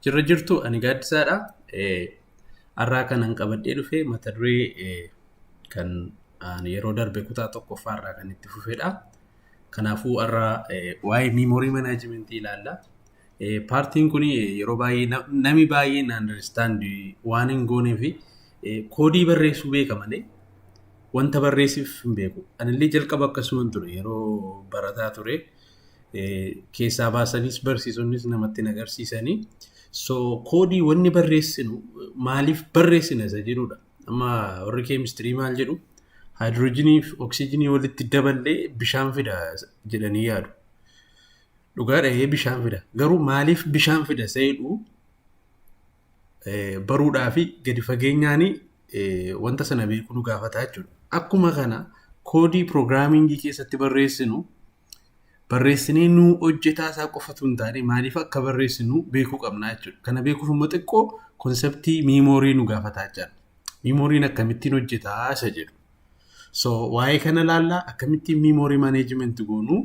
Jirra jirtu ani gaaddisaadha. Har'aa kanan qabadhee dhufe mata duree kan yeroo darbe kutaa tokkoffaa irraa kan itti fufedha. Kanaafuu har'aa waa'ee miimoorii manaajimentii ilaalla. Paartiin kun yeroo baay'ee namni baay'een andarstaandi waan hin goonee fi koodii barreessuu beeka malee wanta barreessiif hin beeku. Anillee jalqaba akkasuman ture yeroo barataa ture. keessaa baasanis barsiisonnis namatti hin agarsiisani. So koodii wanni barreessinu maaliif barreessina isa jedhudha. Amma warri keemistirii maal jedhu haayidiroojiinii fi oksijinii walitti daballee bishaan fida jedhanii yaadu. Dhugaa dhahee bishaan fida. Garuu maaliif bishaan fida isa jedhu baruudhaa fi gadi fageenyaan wanta sana beekuu nu gaafata jechuudha. Akkuma kana koodii piroogiraamingii keessatti barreessinu barreessinee nuu hojjetaa isaa qofatu hin taane maaliif akka barreessinu beekuu qabna jechuudha. Kana beekuuf immoo xiqqoo konseptii miimoorii nu gaafataa jira. Miimooriin akkamittiin hojjetaa isa jedhu. So waa'ee kana ilaallaa akkamittiin miimoorii maaneejimenti goonu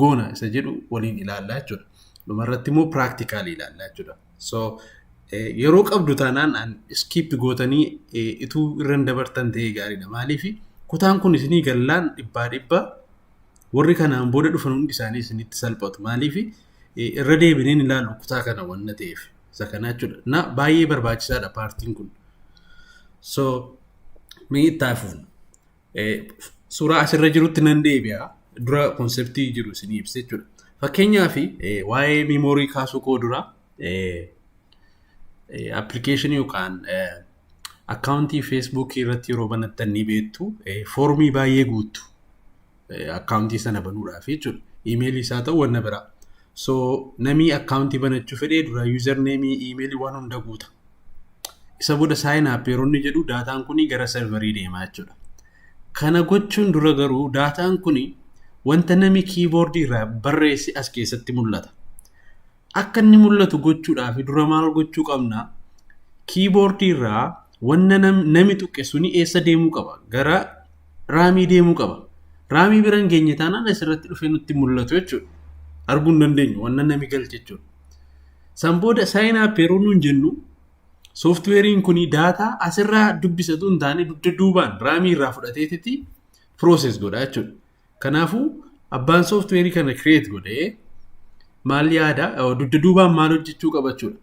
goona isa jedhu waliin ilaallaa jechuudha. Dhumarratti immoo piraaktikaalii ilaallaa jechuudha. So yeroo qabdu taanaan iskiip gootanii ituu irra hin dabartan ta'ee gaariidha. Maaliif kutaan kun isinii gallaan dhibbaa dhibbaa Warri kanaan booda dhufan hundi isaanii isinitti salphatu. Maaliif irra deebineen ilaalu kutaa kana wanna ta'eef. Isa kanaa jechuudha. Na baay'ee barbaachisaadha paartiin kun. So mee itti hafuun. Suuraa asirra jirutti nan deebi'a. Dura konseptii jiru isinii ibsa jechuudha. Fakkeenyaaf waa'ee miimoorii kaasuu koo dura appilikeeshinii yookaan akkaawuntii feesbuukii irratti yeroo banattan ni beektu foormii baay'ee guuttu akkaawuntii sana banuudhaaf jechuudha. Iimeelii isaa ta'u wanna biraa. So namii akkaawuntii banachuu fedhee dura yuuzar neemii iimeelii waan hunda guuta. Isa booda saayin app yeroo inni jedhu daataan kun gara sarvarii deema jechuudha. Kana gochuun dura garuu daataan kun wanta namii kiiboordii irraa barreesse as keessatti mul'ata. akka inni mul'atu gochuudhaaf dura maal gochuu qabna? Kiiboordii irraa wanna nami tuqe suni eessa deemuu qaba? Gara raamii deemuu qaba. Raamii bira hin geenye taanaan asirratti dhufee nutti mul'atu jechuudha. Arguu hin dandeenyu wanna nami galche jechuudha. San booda saayinii appii yeroo nuun jennu sooftiweeriin kun daataa asirraa dubbisatu hin taane dugda duubaan raamii irraa fudhateetiti pirooses godha jechuudha. Kanaafuu abbaan sooftiweerii kana kireet godhe maal yaada dugda duubaan maal hojjechuu qaba jechuudha.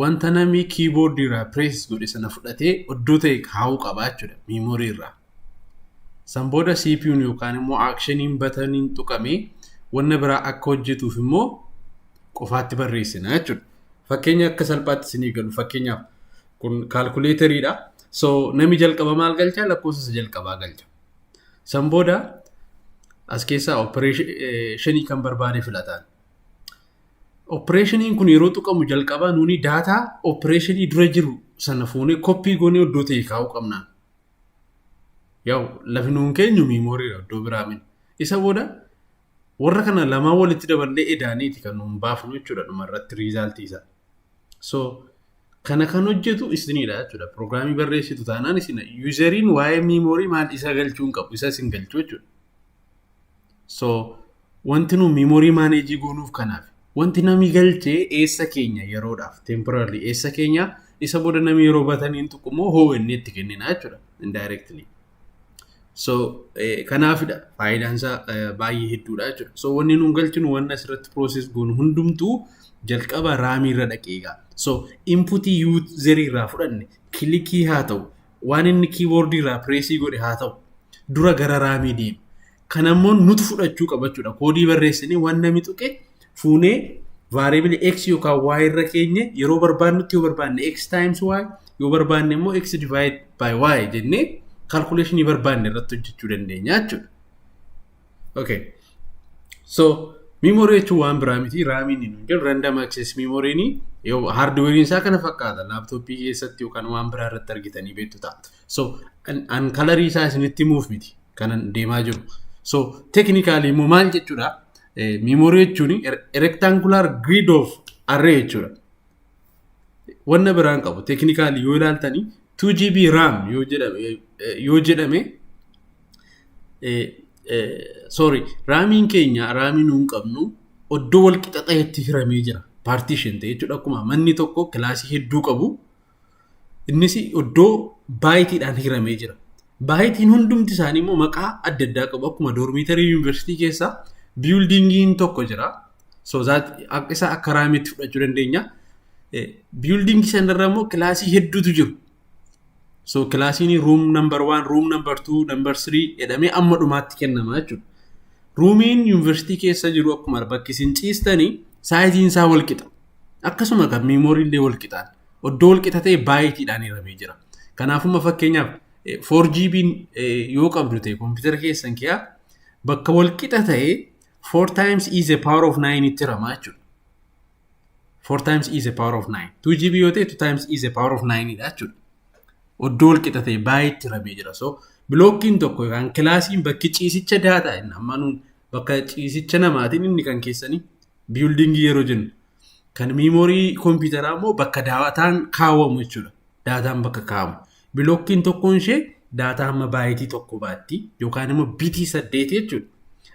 Wanta namni kiiboordii irraa pirees godhe sana fudhatee oddoo ta'e kaa'uu qaba jechuudha miimoorii irraa. San booda CPU'n yookaan immoo aakshiniin bataniin tuqamee wanna biraa akka hojjetuuf immoo qofaatti barreessina jechuudha. Fakkeenya akka salphaatti isinii galu fakkeenyaaf kun kaalkuleeteriidha. So namni jalqaba maal galcha lakkoofsa isa jalqabaa galcha. San booda as keessaa opereeshinii kan barbaade filataan. Opereeshiniin kun yeroo tuqamu jalqabaa nuuni daataa opereeshinii dura jiru sana fuunee koppii goonee iddoo ta'e kaa'uu qabna. Yaw lafi nuun keenyu miimooriidha iddoo biraa miti. Isa booda warra kana lamaan walitti daballee edaaniiti kan nuun baafnu jechuudha dhuma irratti riizaaltii isaa. So Kana kan hojjetu isinidha jechuudha. Pirogiraamii barreessitu taanaan isin yuuzeriin waa'ee miimoorii maal isa galchuu hin qabu isa isin galchuu jechuudha. So wanti nu miimoorii maaneejii goonuuf kanaaf wanti namni galchee eessa keenya yeroodhaaf temporarily eessa keenya isa booda namni yeroo bataniin tuqqumoo hoo inni itti kennina jechuudha indirectly. So kanaafidha faayidaan isaa baay'ee hedduudha jechuudha. So wanni nuun galchinu wanna asirratti process goonu hundumtuu jalqaba raamii irra dhaqee egaa. So inputii user irraa fudhanne kilikii haa ta'u waan inni keyboard irraa preesii godhe haa ta'u dura gara raamii deema. Kan ammoo nutu fudhachuu qaba jechuudha. Koodii barreessinee waan namni tuqe fuunee vaariibili x yookaan y irra keenye yeroo barbaannutti yoo barbaanne x times y yoo barbaanne immoo x divide by y jennee kalkuleeshinii barbaanne irratti hojjechuu dandeenya jechuudha. Okay. So memory jechuun waan biraa miti raamiin hin jiru random access memoryni hardware isaa kana fakkaata laaptooppii keessatti yookaan waan biraa irratti argitanii beektu taatu. So, an, an kalarii isaa isinitti himuuf miti kanan deemaa jiru. So, technically immoo maal jechuudha? Eh, memory jechuun er- rectangular grid of array jechuudha. Wanna biraan qabu. Technically yoo ilaaltanii 2GB RAM yoo jedhame, eh, yoo jedhame eh, eh, sorry, raamiin keenya raamii nuun qabnu oddoo wal qixa ta'etti hiramee jira. Partition ta'e jechuudha. Akkuma manni tokko kilaasii hedduu qabu Innis iddoo baayitiidhaan hiramee jira. Baayitiin hundumti isaanii immoo maqaa adda addaa qabu. Akkuma doormiitarii yuunivarsiitii keessa biyuldiingiin tokko jira. So that akka- isa akka raamiitti fudhachuu dandeenya. Eh, Biyuldiingii sanarra immoo kilaasii hedduutu jiru. So kilaasiin room number one, room number two, number three jedhamee amma dhumaatti kennama jechuudha. Ruumiin yuunivarsiitii keessa jiru akkuma bakki isin ciistanii saayiziin isaa wal qixa. Akkasuma kan miimooriin illee wal qixaan. Oddoo wal qixa ta'e baayitiidhaan hiramee jira. Kanaafumma fakkeenyaaf 4GB yoo qabdu ta'e kompiitara keessan kiyaa bakka wal qixa ta'e 4 times e the power of 9 itti hiramaa jechuudha. 4 times e the power of 9. 2GB yoo ta'e 2 times e the power of 9 dha jechuudha. Oddoo wal qixa ta'e baayitiitti hiramee jira. So bilookkiin tokko yookaan kilaasiin bakki ciisicha daataa inni amma nuun bakka ciisicha namaatiin inni kan keessanii biyuldingii yeroo jennu Kan miimoorii kompiitaraa immoo bakka daataan kaawwamu jechuudha. Daataan bakka kaa'amu. Bilookkiin tokkoon ishee daataa hamma baayitii tokko baatti yookaan immoo bitii saddeeti jechuudha.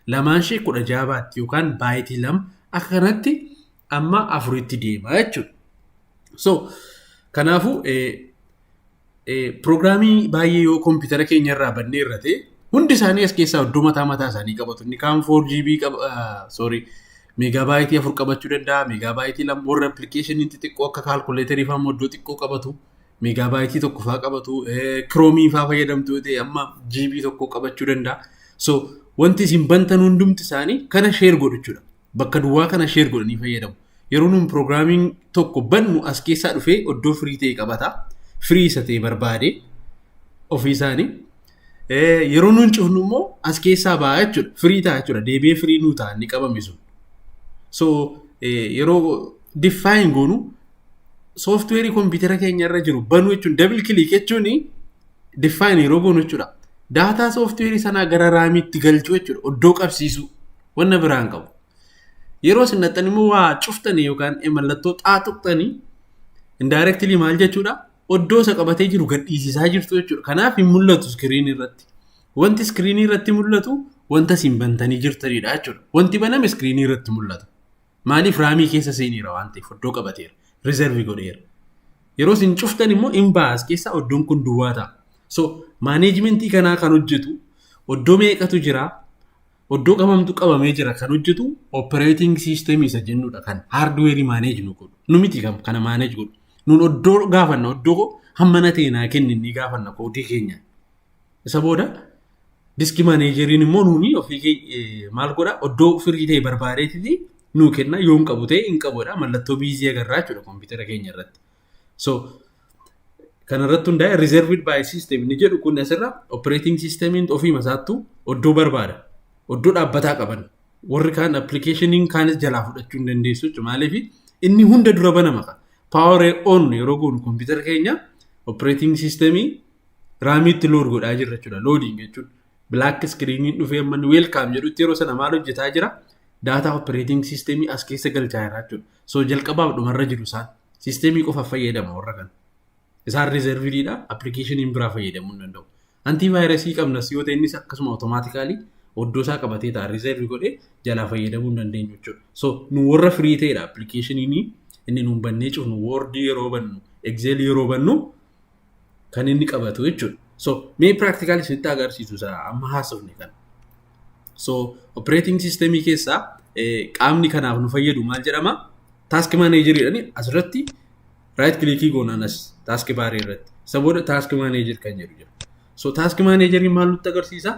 Lamaan ishee kudha jaha baatti yookaan baayitii lama akka kanatti amma afuritti deema jechuudha. So kanaafuu Pirogiraamii baay'ee yoo kompiitara keenya irraa bannee irra ta'e hundi isaanii as keessaa iddoo mataa mataa isaanii qabatu. Inni kaan 4GB qaba, sorry, meegaabaayitii afur qabachuu danda'a, meegaabaayitii lama warra appilikeeshinii xixiqqoo akka kaalkuleetarii fa'aa immoo iddoo xiqqoo qabatu, meegaabaayitii tokko fa'aa qabatu, kiroomii fa'aa fayyadamtu yoo ta'e amma GB tokko qabachuu danda'a. So wanti isin bantan hundumti isaanii kana sheer godhu jechuudha. bakka duwwaa kana share godhanii fayyadamu. Yeroo nuun programming tokko bannu as keessaa dhufee oddoo free ta'e qabata. Free isa ta'e barbaade ofii isaanii. Yeroo nuun cufnu immoo as keessaa ba'a jechuudha. Free ta'a jechuudha. Deebi'ee free nuu ta'a inni qabame sun. So yeroo define goonu software kompiitara keenya irra jiru banuu jechuun double click jechuun define yeroo goonu jechuudha. Daataa software sanaa gara raamiitti galchuu jechuudha. Oddoo qabsiisuu. Wanna biraa hin qabu. Yeroo isin dhaqxan immoo waa cuftanii yookaan mallattoo xaa tuqxanii indirectly maal jechuudha? Oddoo isa qabatee jiru gadhiisisaa jirtu jechuudha. Kanaaf hin mul'atu iskiriinii irratti. Wanti iskiriinii irratti mul'atu wanta isin bantanii jirtanidha jechuudha. Wanti baname iskiriinii irratti mul'ata. Maaliif raamii keessa seeneera waan ta'eef oddoo qabateera. Rizervi godheera. Yeroo isin cuftan immoo in baas keessa oddoon kun duwwaa ta'a. So maaneejmentii kanaa kan hojjetu oddoo meeqatu jira? Oddoo qabamtu qabamee jira kan hojjetu operating system isa jennudha kan hardware manage nu godhu. Nu miti kan kana manage godhu. Nun oddoo gaafanna oddoo koo hammana ta'e naa kenni ni gaafanna koodii keenya. Isa booda diski maneejeriin immoo nuuni ofii maal godha oddoo firii ta'e barbaadeetii nuu kenna yoon qabu ta'e hin qabudha mallattoo biizii agarraa jechuudha kompiitara keenya irratti. So kanarratti hundaa'e reserved by system ni jedhu kun asirra operating systemiin ofiima isaattu oddoo barbaada. Oddoo dhaabbataa qaban. Warri kaan appilikeeshiniin kaanis jalaa fudhachuu hin dandeessu jechuudha. Maaliif inni hunda dura banama qaba. Power on yeroo goonu kompiitara keenya operating systemii raamiitti load godhaa jirra jechuudha. Loading jechuun black screeniin dhufee amma inni welcome jedhutti yeroo sana maal hojjetaa jira? Daataa operating systemii as keessa galchaa jira jechuudha. So jalqabaaf dhumarra jiru isaan. Siisteemii qofa fayyadama warra kana. Isaan riizerviidha. Appilikeeshiniin biraa fayyadamuu hin danda'u. Antii vaayirasii qabna si yoo ta'e innis akkasuma otomaatikaalii oddoo isaa qabatee ta'a riizervi godhee jalaa fayyadamuu hin dandeenyu jechuudha. So nu warra firii ta'edha appilikeeshiniin inni nuun bannee cufnu woordii yeroo bannu egzeelii yeroo bannu kan inni qabatu jechuudha. So mee practical isinitti agarsiisu isa amma haasofne kana. So operating system keessaa qaamni kanaaf nu fayyadu maal jedhama? Task manager jedhani asirratti right click goonaan as task bar irratti. Isa booda task manager kan jedhu jira. So task manager maal nutti agarsiisa?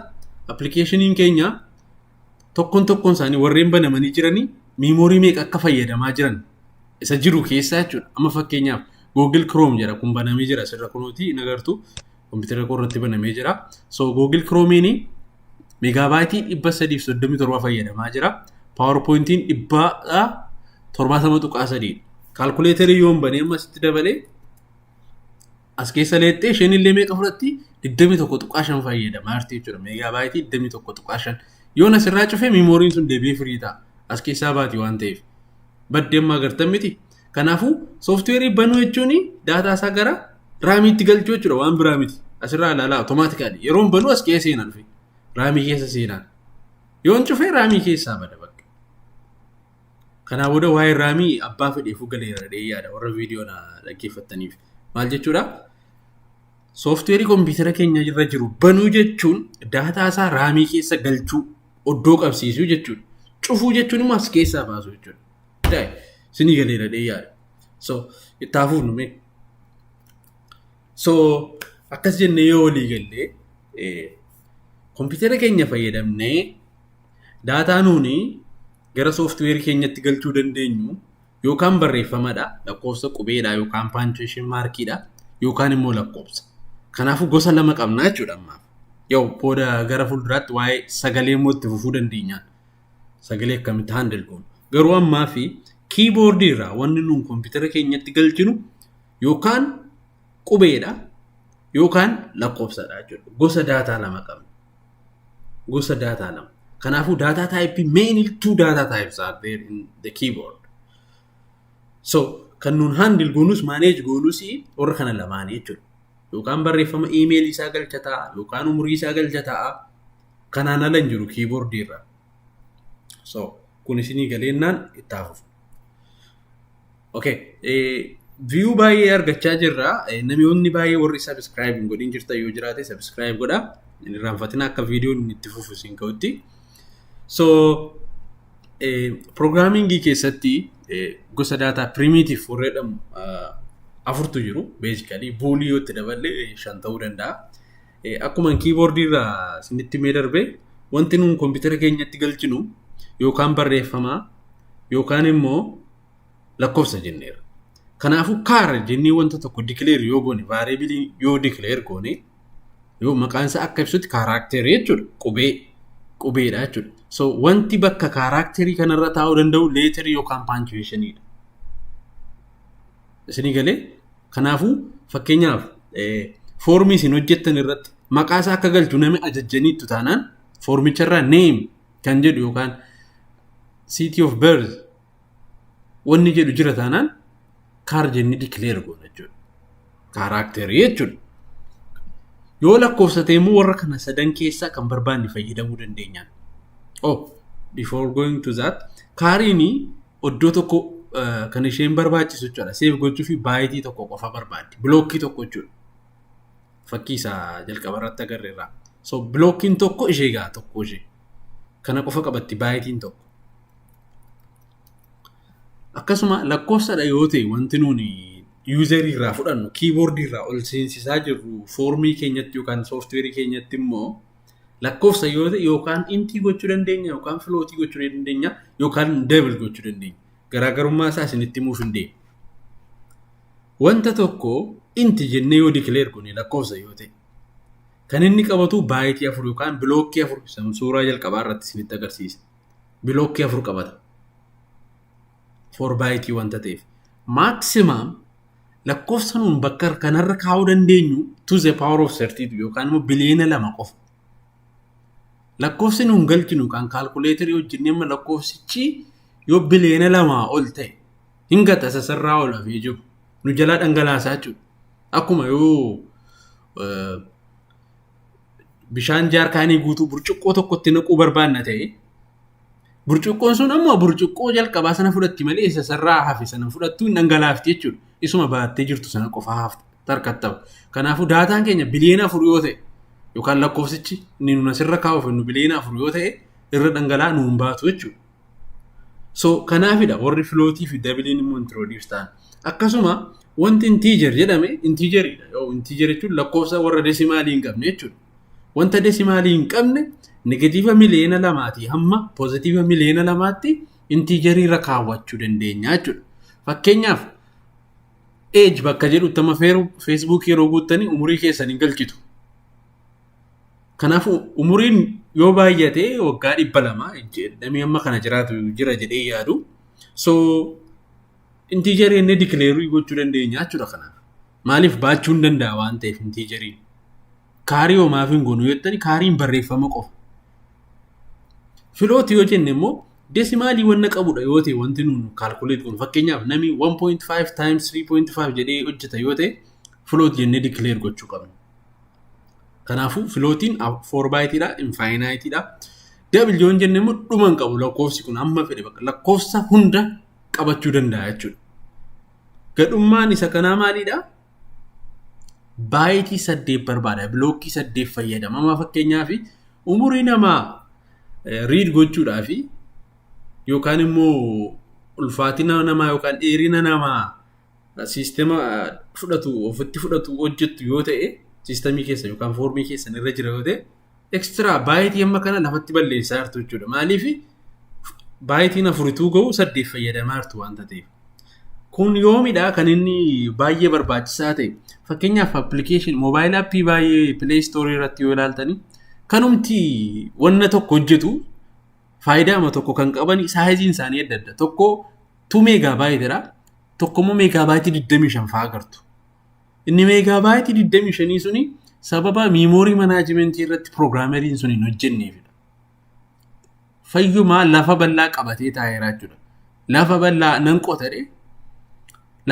Appilikeeshiniin keenya tokkoon tokkoon isaanii warreen banamanii jiranii miimoorii meeqa akka fayyadamaa jiran isa jiru keessaa jechuudha. Amma fakkeenyaaf Google Chrome jedha kun banamee jira asirra kunuuti hin agartu kompiitara koo irratti banamee jira. So Google Chrome'n meegaabaayitii dhibba sadiif soddomii torba fayyadamaa jira. PowerPoint'n dhibba torbaatama tuqaa sadii. Kaalkuleetarii yoon banee amma asitti dabalee As keessa leexxee isheen illee meeqa fudhatti? 21.5 fayyadama jirti jechuudha. Meegaabaayitii 21.5. Yoon asirraa cufee miimooriin sun deebi'ee firii ta'a. As keessaa baati waan ta'eef. Baddee ammaa gartan miti. Kanaafuu sooftiweerii banuu jechuun daataa isaa gara raamiitti galchuu jechuudha waan biraa miti. Asirraa ilaalaa otomaatikaali. Yeroon banuu as keessa seenaan fi raamii keessa seenaan. Yoon cufee raamii keessaa bada bakka. Kanaa booda waa'ee raamii abbaa fedheefuu galeera jedhee yaada warra viidiyoo na dhaggeeffattaniif. Maal jechuudha? Sooftiweerii kompiitara keenya irra jiru banuu jechuun daataa isaa raamii keessa galchuu oddoo qabsiisuu jechuudha. Cufuu jechuun immoo as keessaa baasuu jechuudha. Daa'e, Sinii galeera jedhee yaada. So, itti haa fuufnu mee. So akkas jennee yoo walii galle kompiitara keenya fayyadamnee daataa nuuni gara sooftiweerii keenyatti galchuu dandeenyu yookaan barreeffamadha lakkoofsa qubeedha yookaan paanchuweeshin maarkiidha yookaan immoo lakkoofsa. Kanaafuu gosa lama qabna jechuudha ammaaf. Yoo booda gara fuulduraatti waa'ee sagalee immoo itti fufuu dandeenya. Sagalee akkamitti handil goonu. Garuu ammaa fi kiiboordii irraa wanni nuun kompiitara keenyatti galchinu yookaan qubeedha yookaan lakkoofsadha jechuudha. Gosa daataa lama qabna. Gosa daataa lama. Kanaafuu daataa taayipii mainly two data types are there in the keyboard. So kan nuun handle goonus manage goonus warra kana lamaanii jechuudha. Yookaan barreeffama email isaa galcha ta'a yookaan umurii isaa galcha ta'a. Kanaan ala hin jiru keyboard irra. So kun isinii galeennaan itti hafuuf. Okay. Viyuu baay'ee argachaa jirra. Namoonni baay'ee warri sabiskiraayib hin godhin jirtan yoo jiraate sabiskiraayib godha. Hin irraanfatina akka viidiyoon itti fufu isin ga'utti. So, piroogiraamingii keessatti gosa daataa piriimiitiif warra jedhamu afurtu jiru. Beezikalii boolii yoo itti daballe shan ta'uu danda'a. Akkuma kiiboordii irraa isinitti mee darbe wanti nuun kompiitara keenyatti galchinu yookaan barreeffamaa yookaan immoo lakkoofsa jenneera. Kanaafuu kaara jennee wanta tokko dikileer yoo goone vaariabilii yoo dikileer goone yoo maqaan isaa akka ibsutti kaaraakteerii jechuudha qubee qubeedha jechuudha. So wanti bakka kaaraakteerii kanarra taa'uu danda'u leeterii yookaan paanchuweeshiniidha. Isinii galee kanaafuu fakkeenyaaf foormii isin hojjettan irratti maqaa isaa akka galchu namni ajajjaniittu taanaan foormicharraa neem kan jedhu yookaan city of birth Wanni jedhu jira taanaan kaar jennee dikileer goona jechuudha. Kaaraakterii jechuudha. Yoo lakkoofsa ta'e immoo warra kana sadan keessaa kan barbaanne fayyadamuu dandeenya. Oh, before going to that, kaariin iddoo tokko eh, kan isheen barbaachisu jechuudha. Seef gochuu fi baayitii tokko qofa barbaaddi. Bilookkii tokko jechuudha. Fakkii isaa jalqaba irratti agarre irraa. So, bilookkiin tokko ishee ga'a tokko ishee. Kana qofa qabatti baayitiin tokko. Akkasuma lakkoofsadha yoo ta'e wanti nuuni yuuzarii irraa fudhannu kiiboordii irraa ol seensisaa jirru foormii keenyatti yookaan sooftiweerii keenyatti immoo lakkoofsa yoo ta'e yookaan intii gochuu dandeenya yookaan filootii gochuu dandeenya yookaan deebil gochuu dandeenya. Garaagarummaa isaa isinitti himuuf hin deemu. Wanta tokko inti jennee yoo dikileer goone lakkoofsa yoo ta'e kan inni qabatu baayitii afur yookaan bilookkii afur suuraa jalqabaa irratti isinitti agarsiisa. bilookkii afur qabata. 4 baayitii wanta ta'eef. Maaksimaam lakkoofsa nuun bakka kanarra kaa'uu dandeenyu to the power of 32 yookaan immoo biliyoona lama qofa. Lakkoofsi nuun galchinu kan kaalkuleetarii hojjennee amma lakkoofsichi yoo biliyoona lamaa ol ta'e hin gata sasarraa ol hafee jiru. Nu jalaa dhangalaasaa jechuudha. Akkuma yoo bishaan jaarkaanii guutuu burcuqqoo tokkotti naquu barbaanna ta'e burcuqqoon sun ammoo burcuqqoo jalqabaa sana fudhatti malee isa sarraa hafe sana fudhattuu hin dhangalaafti jechuudha. Isuma baattee jirtu sana qofa hafta tarkatta'u. Kanaafuu daataan keenya biliyoona afur yoo ta'e yookaan lakkoofsichi inni nuun asirra kaa'uuf nu biliyoona afur yoo ta'e irra dhangala'aa nuun baatu jechuudha. So kanaafidha warri filootii fi dabiliin immoo introduce ta'an. Akkasuma wanti integer jedhame integeridha. Yoo integer jechuun lakkoofsa warra desimaalii hin qabne jechuudha. Wanta desimaalii hin qabne negatiiva miliyoona lamaatii hamma pozitiiva miliyoona lamaatti integerii irra kaawwachuu dandeenya jechuudha. Fakkeenyaaf age bakka jedhutti amma feesbuukii yeroo guuttanii umurii keessan hin galchitu. Kanaafuu umuriin yoo baay'ate waggaa dhibba lama jedhamee amma kana jiraatu jira jedhee yaadu. So intiijarii inni dikileerii gochuu dandeenya jechuudha kanaaf. Maaliif baachuu hin danda'a waan ta'eef intiijariin. Kaarii homaaf hin goonu jettani kaariin barreeffama qofa. Filooti yoo jenne immoo desimaalii wanna qabudha yoo ta'e wanti nuun kaalkuleet kun fakkeenyaaf namni 1.5 times 3.5 jedhee hojjeta yoo ta'e filooti jennee dikileer gochuu qabna. Kanaafuu filootiin 4 baayitiidha, infaayinaayitiidha. W hin jenne immoo dhuma hin qabu lakkoofsi kun amma fedhe bakka lakkoofsa hunda qabachuu danda'a jechuudha. Gadhummaan isa kanaa maalidha? Baayitii saddeet barbaada. Bilookkii saddeet fayyadama. Amma fakkeenyaaf umurii namaa riid gochuudhaaf yookaan immoo ulfaatina namaa yookaan dheerina namaa siistema fudhatu ofitti fudhatu hojjettu yoo ta'e siistemii keessa yookaan foormii keessan irra jira yoo ta'e ekstiraa baayitii amma kana lafatti balleessaa jirtu jechuudha. Maaliif baayitiin afurituu ga'u saddeet fayyadamaa jirtu waan ta'eef. Kun yoomidha kan inni baay'ee barbaachisaa ta'e. Fakkeenyaaf appilikeeshin moobaayil appii baay'ee pileey istoorii irratti yoo ilaaltani kanumti wanna tokko hojjetu faayidaama tokko kan qaban saayiziin isaanii adda adda. Tokko 2 meegaa baay'eedha. tokko immoo meegaabaayitii 25 fa'aa agartu. Inni meegaabaayitii 25 suni sababa miimoorii manaajimentii irratti piroograameriin sun hin hojjenneefidha. Fayyumaa lafa bal'aa qabatee taa'eera jechuudha. Lafa bal'aa nan qotadhe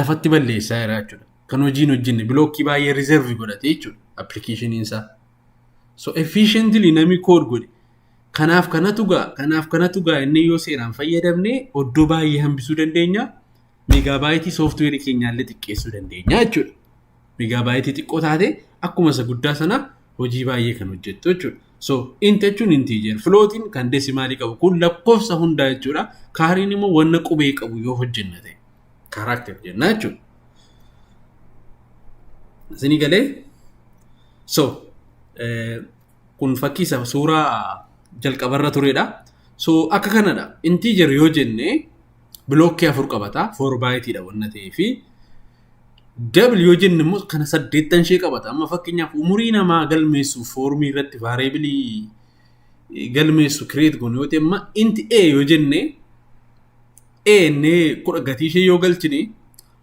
lafatti balleessaa jira jechuudha. Kan hojiin hojjenne bilookkii baay'ee riizervi godhatee jechuudha appilikeeshiniin isaa. So efficiently namni code godhe kanaaf kanatu gaa kanaaf kanatu gaa inni yoo seeraan fayyadamne oddoo baay'ee hambisuu dandeenya meegaabaayitii sooftiweerii keenyaallee xiqqeessuu dandeenya jechuudha. Meegaabaayitii xiqqoo taate akkuma isa guddaa sana hojii baay'ee kan hojjettu jechuudha. So int jechuun integer flootiin kan desimaalii qabu kun lakkoofsa hundaa jechuudha. Kaariin immoo wanna qubee qabu yoo hojjenna ta'e. Kaaraakter jenna jechuudha. Isinii galee so kun fakkii isa suuraa jalqabarra turedha. So akka kanadha. Integer yoo jenne bilookkii afur qabata. Foor baayitiidha wanna ta'ee fi Dabl yoo jenne immoo kana saddeettan ishee qabata. Amma fakkeenyaaf umurii namaa galmeessuuf foormii irratti vaareebilii galmeessu kireet goone yoo ta'e amma inti A yoo jenne Een kudha gatii ishee yoo galchine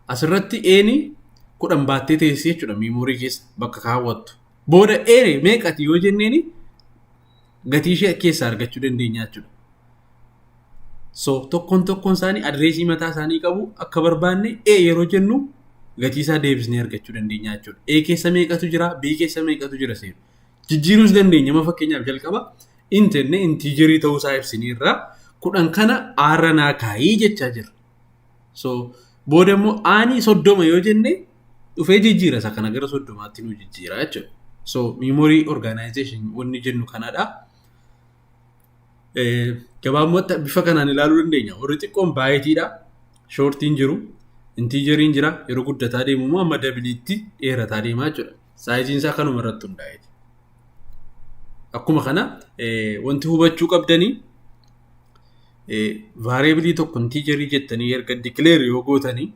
asirratti een kudhan baattee teessee jechuudha miimoorii keessa bakka kaawwattu. Booda een meeqati yoo jenneen gatii ishee keessaa argachuu dandeenya jechuudha. So tokkoon tokkoon isaanii adireesii mataa isaanii qabu akka barbaanne ee yeroo jennu gatii isaa deebisnee argachuu dandeenya jechuudha. Ee keessa meeqatu jira B keessa meeqatu jira seenu. Jijjiiruus dandeenya amma fakkeenyaaf jalqaba in jenne intiijerii ta'uu isaa ibsineerra kudhan kana aarra naa kaayii jechaa jirra. So booda immoo aanii soddoma yoo jenne dhufee jijjiira isa kana gara soddomaatti nu jijjiira jechuudha. So memory organization wanni jennu kanadha. Eh, Gabaabumatti bifa kanaan ilaaluu dandeenya. Warri xiqqoon baayitiidha. Shoortiin jiru. Intiijeriin jira. Yeroo guddataa deemu immoo amma dabiliitti dheerataa deemaa jechuudha. Saayiziin isaa kanuma irratti hundaa'e. Akkuma kana wanti hubachuu qabdanii vaareebilii tokko intiijarii jettanii erga dikileer yoo gootanii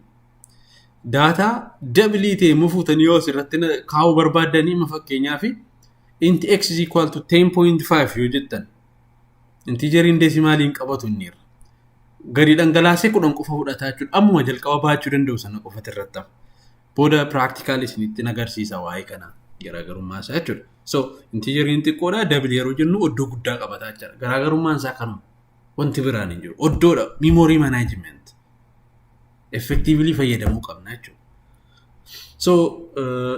daataa dabilii ta'e immoo fuutanii yoo asirratti kaa'uu barbaaddanii amma fakkeenyaaf inti x is equal to 10.5 yoo jettan intiijariin deesimaaliin qabatu inni irra. Gadi dhangalaasee kudhan qofa fudhataa jechuudha. Ammuma jalqaba baachuu danda'u sana qofati irratti hafa. Booda practical isinitti nagarsiisa waa'ee kana garaagarummaa isaa jechuudha. So intiijeriin xiqqoodha double yeroo jennu oddoo guddaa qabataa jechuudha. Garaagarummaan isaa kanuma. Wanti biraan hin jiru. Oddoodha memory management. Effectively fayyadamuu qabna jechuudha. So uh,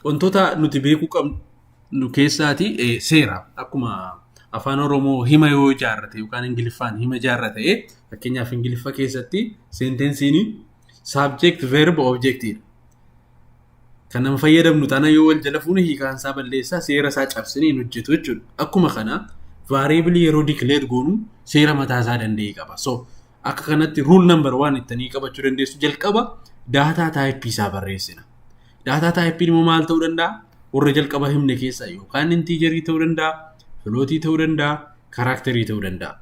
wantoota nuti beekuu qabnu keessaati eh, seera akkuma afaan oromoo hima yoo ijaarrate yookaan ingiliffaan hima ijaarra ta'e fakkeenyaaf ingiliffa keessatti seentensiin Subject verb object dha. Kan nama fayyadamnu taana yoo wal jala fuune hiikaan isaa balleessaa seera isaa cabsine hin hojjetu jechuudha. Akkuma kana variable yeroo declare goonu seera mataa isaa danda'e qaba. So akka kanatti rule number waan ittanii qabachuu dandeessu jalqaba daataa taayipii isaa barreessina. Daataa taayipiin immoo maal ta'uu danda'a? Warra jalqaba himne keessaa yookaan intiijerii ta'uu danda'a, filootii ta'uu danda'a, karaakterii ta'uu danda'a.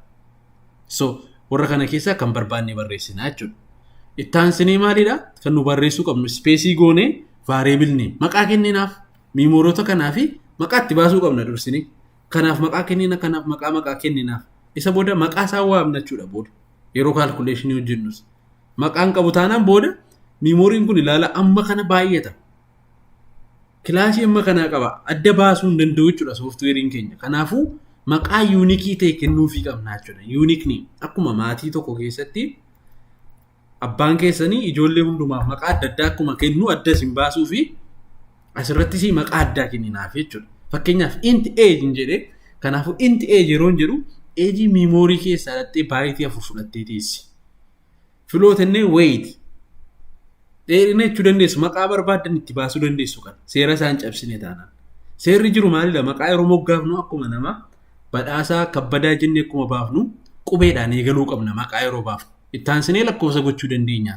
So warra kana keessaa kan barbaanne barreessina jechuudha. Itti aansinee maalidha? Kan nu barreessuu qabnu ispeesii goonee vaareebil neem maqaa kenninaaf miimoorota kanaa fi maqaa itti baasuu qabna dursinee. Kanaaf maqaa kennina kanaaf maqaa maqaa kenninaaf. Isa booda maqaa isaa waamna jechuudha booda yeroo kaalkuleeshinii hojjennus. Maqaan qabu taanaan booda miimooriin kun ilaala amma kana baay'ata. kilaasii amma kanaa qaba adda baasuu hin danda'u jechuudha sooftiweeriin keenya kanaafuu maqaa yuunikii ta'e kennuufii qabna jechuudha yuunikni akkuma maatii tokko keessatti abbaan keessanii ijoollee hundumaaf maqaa adda addaa akkuma kennu adda isin baasuu fi asirrattis maqaa addaa kenninaaf jechuudha fakkeenyaaf inti eeji hin jedhe kanaafuu inti eeji yeroo hin jedhu eejii miimoorii keessaa dhattee baayitii afur fudhattee teessi. Filoota inni wayiiti. Dheerina jechuu dandeessu maqaa barbaaddan itti baasuu dandeessu kan seera isaan cabsine taanaan. Seerri jiru maalidha? Maqaa yeroo moggaafnu akkuma nama badhaasaa kabbadaa jennee akkuma baafnu qubeedhaan eegaluu qabna maqaa yeroo baafnu. Itti aansinee lakkoofsa gochuu dandeenya.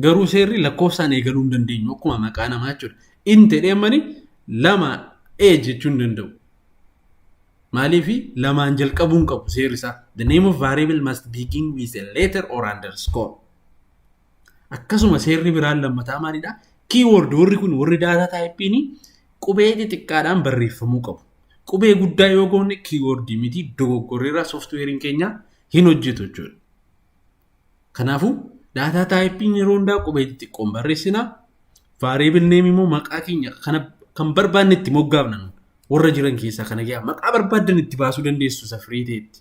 Garuu seerri lakkoofsaan eegaluu hin dandeenyu akkuma maqaa namaa jechuudha. Inni jedhee mani lama ee jechuu hin danda'u. Maaliif lamaan jalqabuu hin qabu seerri isaa. The name of variable must begin with a letter or underscore. Akkasuma seerri biraan lammataa maalidha? Keyword warri kun warri daataa taayippiin qubee xixiqqaadhaan barreeffamuu qabu. Qubee guddaa yoo goone keyword miti dogoggorreerraa sooftiweeriin keenya hin hojjetu jechuudha. Kanaafuu daataa taayipiin yeroo hundaa qubee xixiqqoon barreessina. Vaariyeebil neem immoo maqaa keenya kana kan barbaanne itti moggaafna. Warra jiran keessaa kana gaa maqaa barbaaddan itti baasuu dandeessu isa firii ta'etti.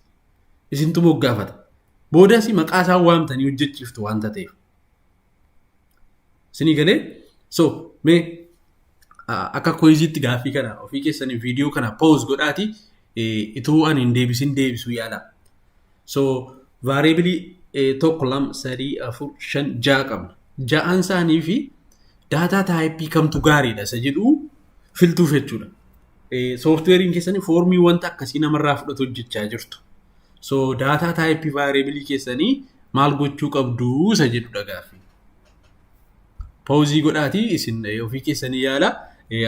Isintu moggaafata. Boodas maqaa isaan waamtanii hojjechiiftu waanta ta'eef. Isinii galee so mee akka koyiziitti gaaffii kana ofii keessanii viidiyoo kana pause godhaati ituu ani hin deebisin deebisuu yaala. So variabilii tokko lama sadii afur shan ja'a qabna. Ja'aan isaanii fi daataa taayipii kamtu gaariidha isa jedhu filtuuf jechuudha. sooftiweeriin keessanii foormii wanta akkasii namarraa fudhatu hojjechaa jirtu. So daataa taayipii vaayireebilii keessanii maal gochuu qabdu isa jedhudha gaaffi. Poozii godhaatii isin ofii keessanii yaala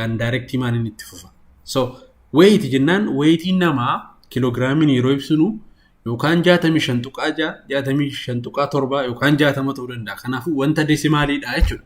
an daayirektii maaliin itti fufa. So weeyiti jennaan weeyitiin namaa kiloogiraamiin yeroo ibsinu yookaan 65 tuqaa 6, 65 tuqaa 7 yookaan 60 ta'uu danda'a. Kanaafuu wanta deesimaaliidha jechuudha.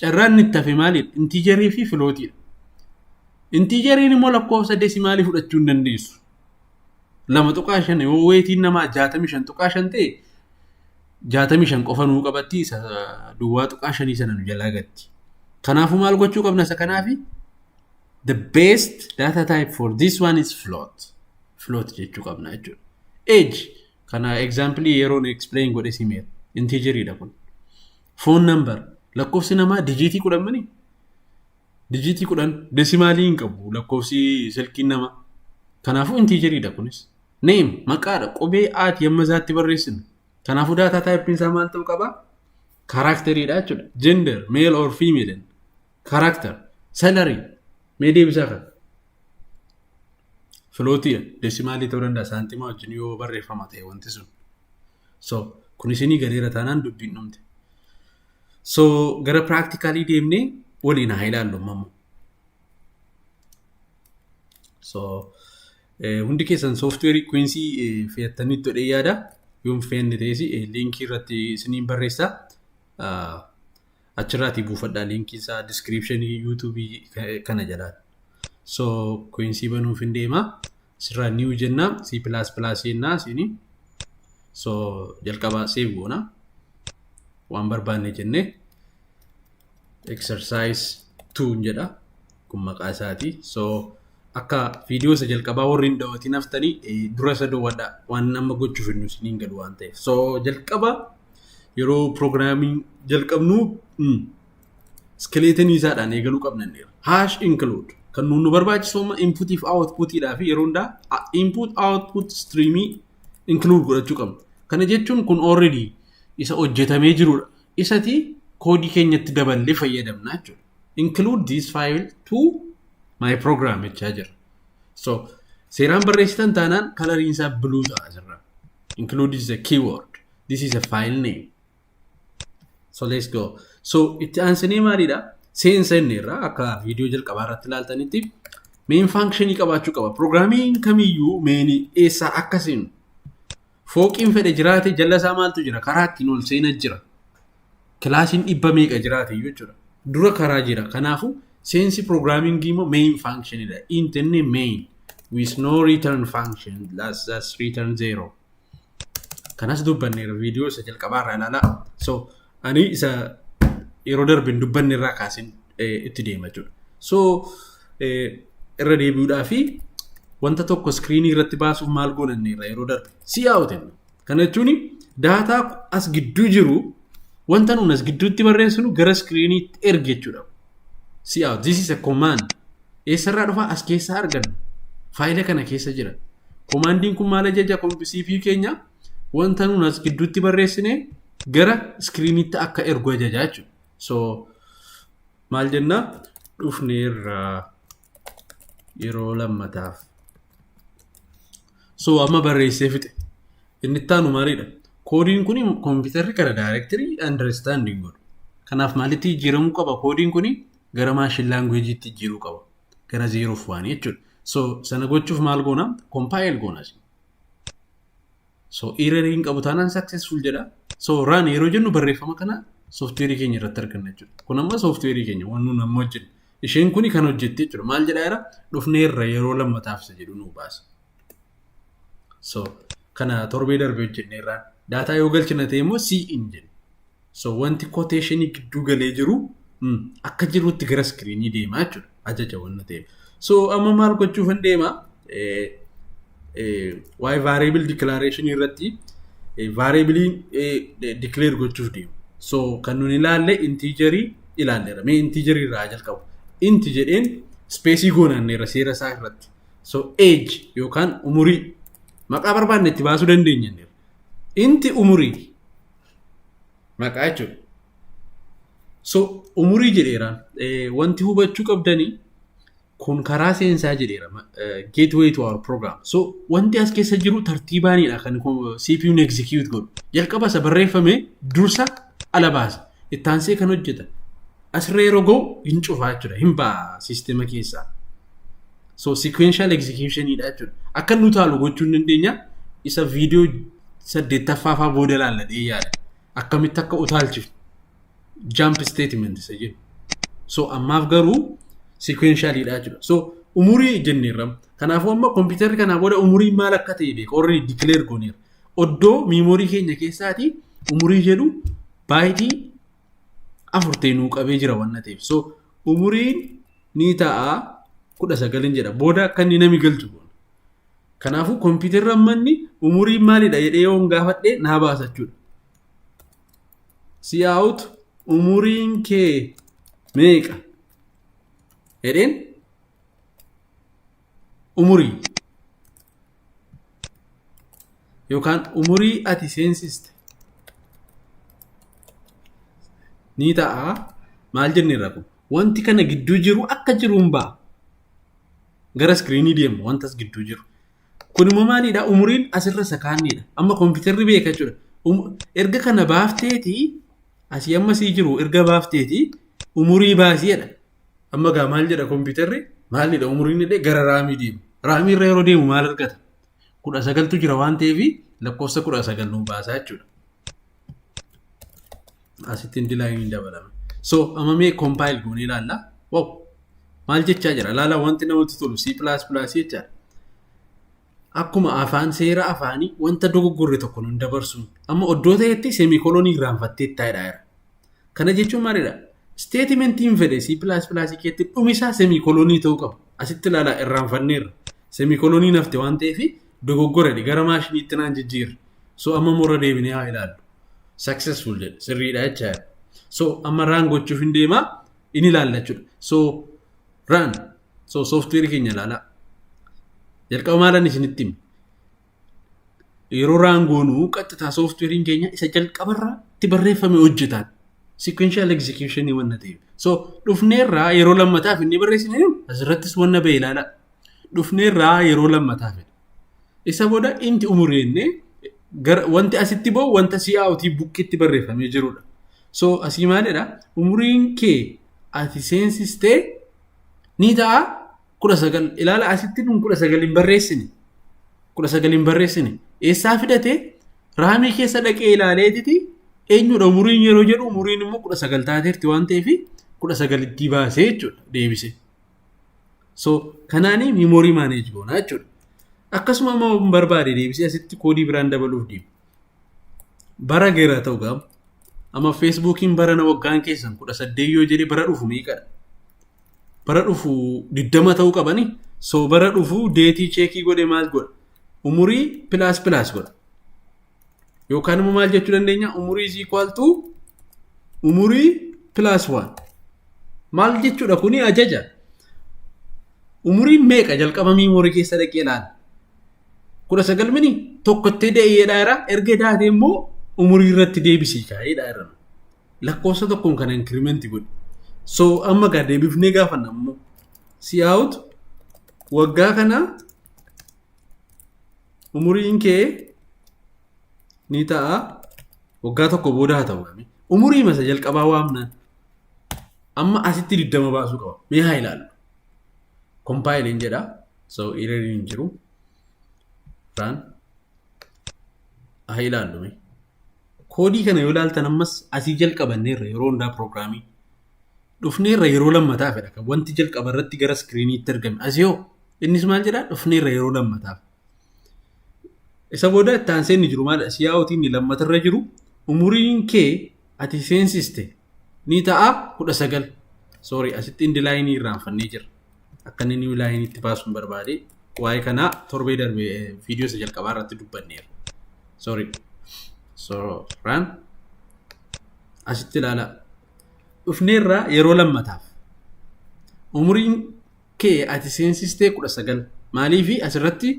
Carraan inni itti hafe maalidha? Intiijarii fi filootiidha. Intiijariin immoo lakkoofsa desimaalii fudhachuu hin dandeessu. Lama tuqaa shan yoo weetiin namaa jaatamii shan tuqaa shan ta'e jaatamii shan qofa nuu qabatti isa duwwaa tuqaa shanii sana nu jalaa gatti. Kanaafuu maal gochuu qabna isa kanaafi? The best data type for this one is float. Float jechuu qabna jechuudha. Age kana example yeroon explain godhe simeera. Intiijariidha kun. Foon nambar lakkoofsi namaa dijiitii kudhan mini dijiitii kudhan desimaalii hin qabu lakkoofsi silkiin namaa. Kanaafuu intiijeriidha kunis. Neem maqaadha qubee aati amma isaatti barreessinu. Kanaafuu daataa taayippiin isaa maal ta'uu qaba? Kaaraakteriidha jechuudha. Gender male or female kaaraakter salary mee deebisaa kan. Filootii desimaalii ta'uu danda'a saantima wajjin yoo barreeffama ta'e wanti sun. so kun isinii galeera taanaan dubbiin dhumte so gara practicalii deemnee waliin haa ilaallu mamu so eh, hundi keessan software quincy eh, fe'attanii todhee yaada yoon fe'anne ta'es eh, linkii irratti isiniin barreessa Ah, achirraatii buufadhaa liinkii isaa diskiriipshinii yuutuubii kana jalaan. So kuinsii banuuf hin deema. Sirraa niiw jenna C pilaas pilaas jennaa siini. So jalqabaa seef goona. Waan barbaanne jennee exercise 2 jedha. kun maqaa isaati so akka viidiyoo isa jalqabaa warri hin dawatiin haftanii eh, dura isa dawwadha waan amma gochuuf hin nusin hin galu waan ta'eef so jalqaba yeroo piroogiraamii jalqabnu mm, iskeleetinii isaadhaan eegaluu qabnanneera. Hash include kan nuun nu barbaachisu amma inputii fi outputiidhaa fi yeroo hundaa a- input output streamii include godhachuu qabna. Kana jechuun kun already isa hojjetamee jirudha. Isati koodii keenyatti daballee fayyadamna jechuudha. include this file to my program jechaa jira. So seeraan barreessitan taanaan kalariin isaa blue ta'a asirra. Include is a keyword. This is a file name. So let's go. So itti aansinee maalidha? Seensa inni irraa akka viidiyoo jalqabaa irratti ilaaltanitti main functionii qabaachuu qaba. Programming kamiyyuu main eessaa akka seenu Fooqiin fedhe jiraate jalla isaa maaltu jira? Karaa ittiin ol seena jira. Kilaasiin dhibba meeqa jiraate iyyuu jechuudha. Dura karaa jira. Kanaafuu seensi piroogiraamingii immoo main function dha. Int inni main with no return function that's, that's return zero. Kanas dubbanneera viidiyoo isa jalqabaa irraa ilaalaa. So Ani isa yeroo darbe hin dubbanne irraa kaaseen eh, itti deema jechuudha. So eh, irra deebi'uudhaa fi wanta tokko iskiriinii irratti baasuuf maal goonanne irra yeroo darbe si yaa'uutin. Kana jechuun daataa as gidduu jiru wanta nuun as gidduutti barreessinu gara iskiriiniitti erge jechuudha. Si yaa'u this is a command. Eessarraa dhufaa as keessaa arganna. Faayila kana keessa jira. Komaandiin kun maal ajaja kompisii fi keenya wanta nuun as gidduutti barreessine gara iskiriiniitti akka ergu ajaja jechuudha. So maal jenna dhufne irraa yeroo lammataaf. So amma barreessee fixe. Inni itti aanu maaliidha? Koodiin kun kompiitarri kana daayirektirii andarestaandii godhu. Kanaaf maalitti jijjiiramuu qaba? Koodiin kun gara maashin laanguweejiitti jijjiiruu qaba. Gara zeeroof waan jechuudha. So sana gochuuf maal goona? Kompaayil goona. So error hin qabu taanaan successful jedha. So run yeroo jennu barreeffama kana software keenya irratti arganna jechuudha. Kun amma software keenya waan nuun amma hojjennu. Isheen kuni kan hojjette jechuudha. Maal jedhaa jira? Dhufnee irra yeroo lammataaf isa jedhu nuu baasa. So kana torbee darbe hojjenne irraan. Daataa yoo galchina ta'e immoo siin jenna. So wanti quotation gidduu galee jiru mm, akka jirutti gara iskiriinii deemaa jechuudha. Ajaja wanna ta'eef. So amma maal gochuufan deema? Eh, eh, waa'ee variable declaration irratti eh, variable eh, de- declare gochuuf deemu. So kan nun ilaalle integerii ilaalleera. Mee integerii irraa haa jalqabu. Inti jedheen speesii goonanneera seera isaa irratti. So age yookaan umurii maqaa barbaanne itti baasuu dandeenyanneera. Inti umurii Maqaa jechuudha. So umurii jedheera. Eh, Wanti hubachuu qabdanii kun karaa seensaa jedheera. ma- eh, Gateway to our program. So wanti as keessa jiru tartiibaanidha kan ko- CPUn execute godhu. Jalqaba isa barreeffame dursa ala baasa. Ittaansee kan hojjeta. Asirra yeroo ga'u hin cufaa jechuudha. Hin ba'a siistema keessaa. So sequential execution dha jechuudha. Akka nu taalu gochuu hin dandeenya. Isa viidiyoo saddeettaffaa faa booda ilaalla jedhee yaada. Akkamitti akka utaalchifnu. Jump statement isa jedhu. So ammaaf garuu sequential dha jechuudha. So umurii jenneerra. Kanaafuu amma kompiitarri kanaa booda umurii maal akka ta'e beeka. Warri declare gooneera. Oddoo miimoorii keenya keessaati umurii jedhu baayitii afur ta'e nuu qabee jira waan ta'eef. So umuriin ni ta'a kudha sagalin jedha. Booda akka inni nami galchu goona. Kanaafuu kompiitarri amma inni umuriin maalidha jedhee yoon gaafadhe naa baasa jechuudha. Siyaa'ut umuriin kee meeqa? Jedheen umurii yookaan umurii ati seensiste ni ta'a maal jennee rakku wanti kana gidduu jiru akka jiruun ba'a gara iskiriinii deemu wantas gidduu jiru kun immoo maalidha umuriin asirra isa kaanniidha amma kompiitarri beeka jechuudha Um- erga kana baafteeti asii amma sii jiru erga baafteeti umurii baasiidha Amma gaa maal jedha kompiitarri maalidha umriin illee gara raamii deema. Raamii irra yeroo deemu maal argata? Kudha sagaltu jira waan ta'eef lakkoofsa kudha sagal nuun baasaa jechuudha. Asitti hin dilaayin hin dabalame. So amma mee kompaayil goonee ilaalla. Wow! Maal jechaa jira? Ilaala wanti namatti tolu C++ jechaa. Akkuma afaan seera afaanii wanta dogoggorre tokko nun dabarsuun amma oddoo ta'etti seemikolonii irraanfatteetta jedhaa jira. Kana jechuun maalidha? Isteetimentiin fedhe C++ keetti dhumisaa seemikolonii ta'uu qaba. Asitti ilaalaa irraanfanneerra. Seemikolonii nafte waan ta'eef dogoggoredha. Gara maashiniitti naan jijjiirre. So amma immoo irra deebinee haa ilaallu. Successful jedhe. Sirriidha jechaa jira. So amma raan gochuuf hin deemaa in ilaalla jechuudha. So raan So sooftiweerii keenya ilaalaa. Jalqaba maalan isinitti hima? Yeroo raangoonuu qaxxitaa sooftiweeriin keenya isa jalqabarraa itti barreeffame hojjetaan. Sequential execution wanna ta'eef. So dhufneerraa yeroo lammataaf inni barreessine jiru asirrattis wanna ba'e ilaalaa. Dhufneerraa yeroo lammataaf. Isa booda inti umurii jennee gara wanti asitti ba'u wanta si'aawutii bukkitti barreeffamee jirudha. So asii maalidha? Umuriin kee ati seensistee ni ta'a kudha sagal ilaala asitti kun kudha sagal hin barreessine kudha sagal hin barreessine eessaa fidate raamii keessa dhaqee ilaaleetiti eenyudha umuriin yeroo jedhu umuriin immoo kudha sagal taateerti waan ta'eef kudha sagal itti baasee jechuudha deebise. So kanaanii miimoorii maaneej goona jechuudha. Akkasuma immoo barbaade deebisee asitti koodii biraan dabaluuf deema. bara geera ta'u gaab amma feesbuukiin barana waggaan keessan kudha saddeet yoo jedhe bara dhufu meeqadha bara dhufu diddama ta'uu qabani soo bara dhufu deetii cheekii godhe maal godha umurii pilaas pilaas godha yookaan immoo maal jechuu dandeenya umurii is equal to umurii pilaas waan maal jechuudha kuni ajaja umuriin meeqa jalqaba miimoorii keessa dhaqee ilaala kudha sagal mini tokkottee da'eedhaa irraa erga daatee immoo umurii irratti deebisii kaa'eedhaa irra lakkoofsa tokkoon kana inkirimeenti godhi. So amma gaa deebifnee gaafanna ammoo si'aawutu waggaa kana umuriin kee ni ta'a waggaa tokko booda haa ta'u dha. Umurii masa jalqabaa waamnaan amma asitti digdama baasuu qaba. Mee haa ilaallu. Compile hin jedha. So error hin jiru. Run. Haa ilaallu mee. Koodii kana yoo ilaaltan ammas asii jalqabanneerra yeroo hundaa pirogiraamii. Dhufneerra yeroo lammataa fedha kan wanti jalqaba irratti gara iskiriiniitti argame. Asii hoo innis maal jedhaa dhufneerra yeroo lammataaf. Isa booda itti aansee inni jiru maal siyaa'ootiin inni lammatarra jiru umuriin kee ati seensiste ni ta'a kudha sagal. Sorry asitti indi laayinii irraanfannee jirra. Akka inni niw laayiniitti baasuun barbaade waa'ee kanaa torbee darbe viidiyoo isa jalqabaa irratti dubbanneera. Sorry. Sooraan asitti ilaalaa. Dhufneerraa yeroo lammataaf umuriin kee ati seensistee kudha sagal maaliifi asirratti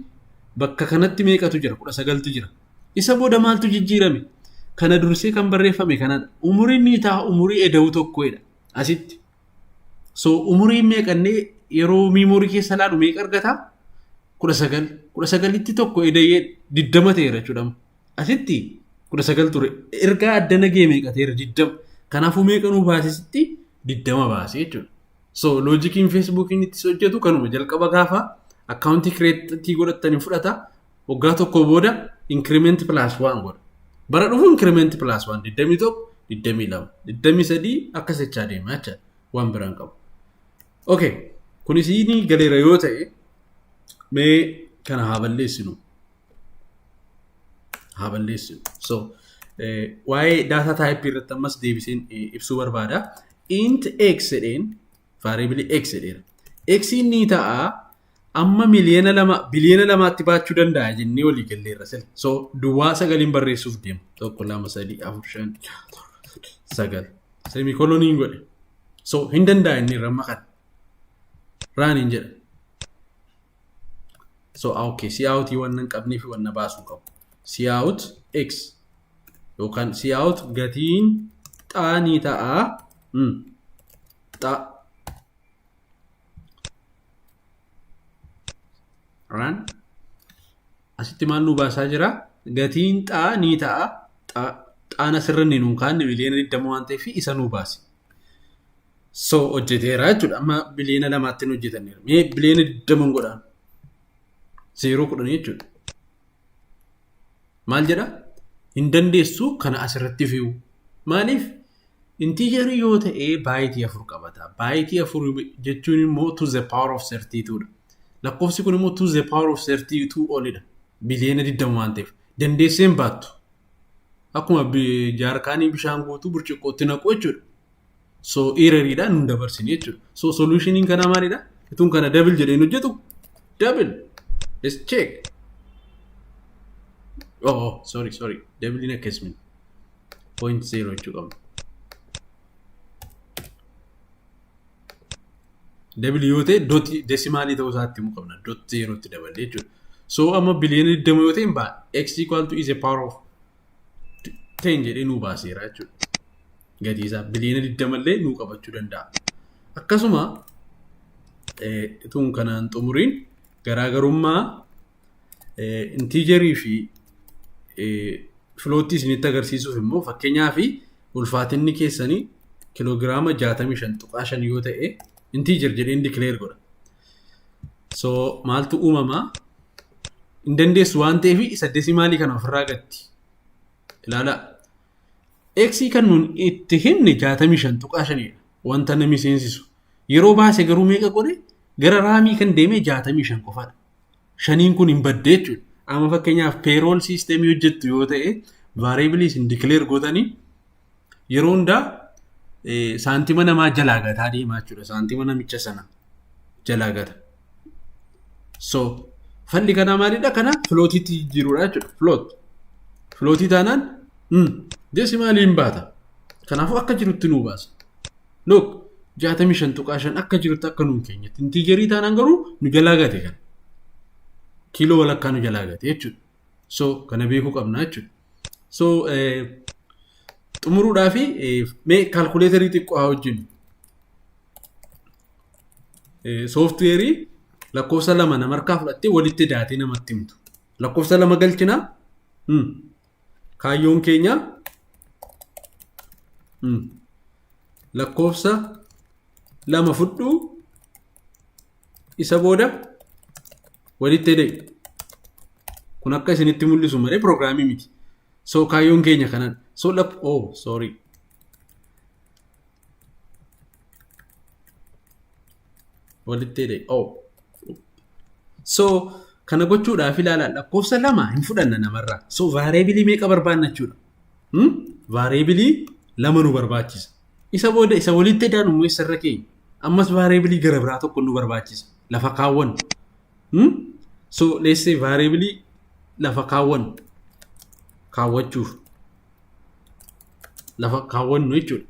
bakka kanatti meeqatu jira kudha sagaltu jira isa booda maaltu jijjiirame kana dursee kan barreeffame kanadha umuriin ni ta'a umurii eda'uu tokkoodha asitti so umuriin meeqannee yeroo miimoorii keessa laalu meeqa argata kudha sagal kudha sagalitti tokko eda'ee diddama ta'eera jechuudha asitti kudha sagal ture ergaa adda nagee meeqa ta'eera diddama kanaafuu meeqa nuu baasisitti diddama baasee jechuudha. So loojikiin Feesbuukiin itti hojjetu kanuma jalqaba gaafa akkaawuntii kireetii godhattanii fudhata waggaa tokko booda inkirimeenti pilaas waan godha. Bara dhufu inkirimeenti pilaas waan 21, 22, 23 akkas jechaa deema jecha waan biraan qabu. Okay, kunis ni galeera yoo ta'e mee kana haa balleessinu. Haa balleessinu. So waa'ee daataa taayipii irratti ammas deebiseen ibsuu barbaada. int x jedheen variable x jedheera. x ni ta'a amma miliyoona lama biliyoona lamaatti baachuu danda'a jennee walii galleerra sila. So duwwaa sagaliin barreessuuf deema. Tokko lama sadii afur shan sagal. Semikoloniin godhe. So hin danda'a inni irra amma kana. Raaniin jedha. so okay si out waan nan qabnee fi waan na baasuu qabu si out x yookaan si out gatiin xaa ni ta'a mm. xaa raan asitti maal nu baasaa jira gatiin xaa ni ta'a xaa xaan asirra ni nuun kaanne miliyoona 20 waan ta'eef isa nu baase So hojjeteera jechuudha. Amma biliyoona lamaatti hin hojjetanneera. Mee biliyoona digdama hin godhaan. Zeeroo kudhanii jechuudha. Maal jedha? Hin dandeessu kana asirratti fi'u. Maaliif? Intiijarii yoo ta'e baayitii afur qabata. Baayitii afur jechuun immoo to the power of 32 dha. Lakkoofsi kun immoo to the power of 32 olidha. Biliyoona digdama waan ta'eef. Dandeessee hin baattu. Akkuma jaarkaanii bishaan guutuu burcuqqootti naqu jechuudha. So eereriidhaan nu dabarsine jechuudha. So solushiniin kanaa maalidha? Ituun kana double jedhee hin hojjetu. Double. Let's check. Oh, oh sorry sorry. Double hin akkasumas. Point zero jechuu qabna. Dabili yoo ta'e doti desimaalii ta'uu isaa itti himuu qabna. Dot zeeroo itti daballe jechuudha. So amma biliyoona 20 yoo ta'e hin ba'a. X equal to is a power of 10 jedhee nuu baaseera jechuudha. Gatii isaa biliyoona 20 illee nuu qabachuu danda'a. Akkasuma eh, tuun kanaan xumuriin garaagarummaa Intiijerii fi filoottii isinitti agarsiisuuf immoo fakkeenyaa fi ulfaatinni keessanii kiloogiraama 65.5 yoo ta'e intiijer jedheen dikileer godha. So maaltu uumamaa? Hin dandeessu waan ta'eef isa desimaalii kana ofirraa gatti. Ilaalaa. X kan nuun itti himne 65.5 dha. Wanta namni seensisu. Yeroo baase garuu meeqa godhe? Gara raamii kan deeme 65 qofadha. shaniin kun hin badde jechuudha. Amma fakkeenyaaf payroll system hojjettu yoo ta'e variable isin declare gootanii yeroo hundaa saantima namaa jalaa gataa deemaa jechuudha. Saantima namicha sana jalaa gata. So falli kanaa maalidha? Kana filootiitti jijjiiruudha jechuudha. Filoot. Filootii taanaan desimaalii hin baata. Kanaafuu akka jirutti nuu baasa. Look, 65.5 akka jirutti akka nuun keenyatti. Intiijerii taanaan garuu nu jalaa gate kana. Kiiloo walakkaa nu jalaa gate jechuudha. So kana beekuu qabna jechuudha. So eh, xumuruudhaa fi eh, mee kaalkuleetarii xiqqoo haa hojjennu. Eh, Sooftiweerii lakkoofsa lama namarkaa fudhattee walitti daatee namatti himtu. Lakkoofsa lama galchinaa. Hmm. Kaayyoon keenya mm, lakkoofsa lama fudhuu isa booda walitti hidhee kun akka isinitti mul'isu malee pirogiraamii miti. So kaayyoon keenya kanadha. So lak oh sorry. walitti hidhe oh. so kana gochuudhaaf ilaalaa lakkoofsa lama hin fudhanna namarraa so vaareebilii meeqa barbaanna jechuudha hmm? vaareebilii lama nu barbaachisa isa booda isa walitti hidhaan immoo isarra keenya ammas vaareebilii gara biraa tokko nu barbaachisa lafa kaawwan hmm? so let's say vaareebilii lafa kaawwan kaawwachuuf lafa kaawwannu jechuudha.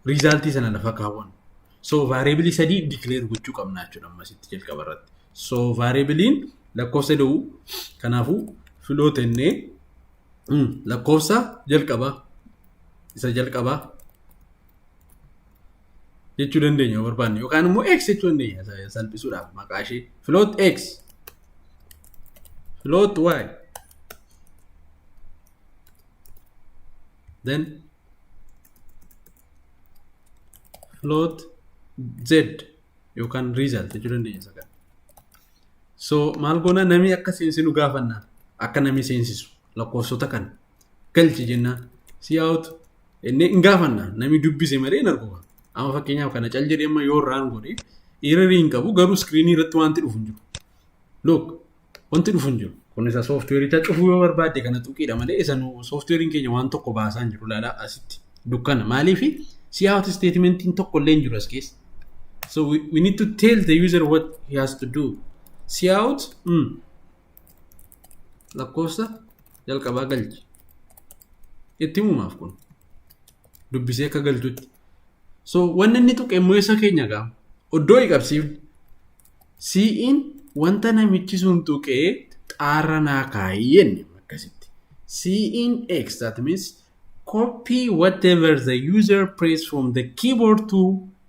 Riizaaltii sana lafa kaawwannu. So vaariyeebilii sadii dikileer gochuu qabna jechuudha ammasitti jalqaba irratti. So vaariyeebiliin lakkoofsa da'u kanaafuu filoo tennee lakkoofsa jalqaba isa jalqaba jechuu dandeenya yoo barbaanne yookaan immoo x jechuu dandeenya salphisuudhaaf maqaa ishee filoot x filoot y then float z yookaan result jechuu dandeenya isa kana. So maal goona nami akka seensinu gaafanna akka nami seensisu lakkoofsota kana galchi jennaan si out inni hin gaafanna nami dubbise malee hin argu amma fakkeenyaaf kana cal jedhee amma yoo irraan godhe eererii hin qabu garuu iskiriinii irratti wanti dhufu hin jiru. Look Wanti dhufu hin jiru. Kun isa sooftiweericha cufuu yoo barbaadde kana tuqiidha malee isa nu sooftiweeriin keenya waan tokko baasaa hin jiru laalaa asitti dukkana maaliif si out statementiin tokko illee hin jiru as keessa. So we, we need to tell the user what he has to do. Si out mm, lakkoofsa jalqabaa galchi. Itti himumaaf kun dubbisee akka galchutti. So wanni inni tuqe immoo isa keenya gaa oddoo hin qabsiifne Sii'iin wanta namichi sun tuqee xaarra naa kaa'i jenne akkasitti. Sii'iin X that means copy whatever the user press from the keyboard to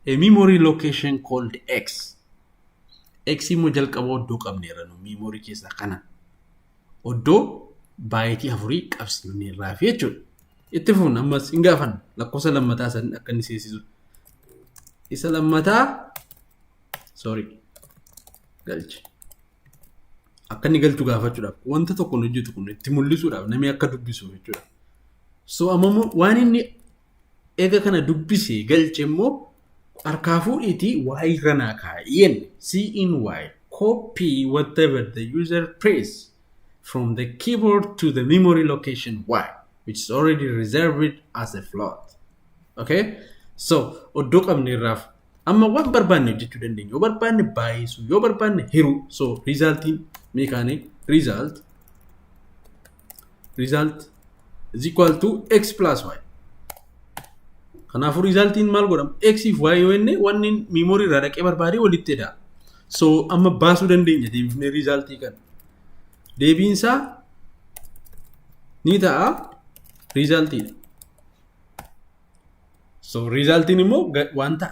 a memory location called X. X immoo jalqaba oddoo qabneerra nu memory keessaa kana. Oddoo baayitii afurii qabsiifneerraa fi jechuudha. Itti fuun ammas hin gaafanna lakkoofsa lammataa san akka inni seesisu. Isa lammataa sorry galchi akka inni galchu gaafachuudhaaf wanta tokko hin hojjetu kun itti mul'isuudhaaf namni akka dubbisu jechuudha. So amma immoo waan inni eega kana dubbise galche immoo harkaa fuudhiitii waa'ee irra naa kaa'i jenne see in waa'ee copy whatever the user press from the keyboard to the memory location y which is already reserved as a float. Okay? So oddoo qabne irraaf Amma waan barbaanne hojjechuu dandeenya. Yoo barbaanne baay'isuu, yoo barbaanne hiruu. So riizaaltiin mee kaane riizaalt riizaalt is equal to x plus y. Kanaafuu riizaaltiin maal godhama? X fi y yoo inni wanni miimoorii irraa dhaqee barbaadee walitti edaa. So amma baasuu dandeenya deebifnee riizaaltii kana. Deebiin isaa ni ta'a riizaaltiidha. So riizaaltiin immoo wanta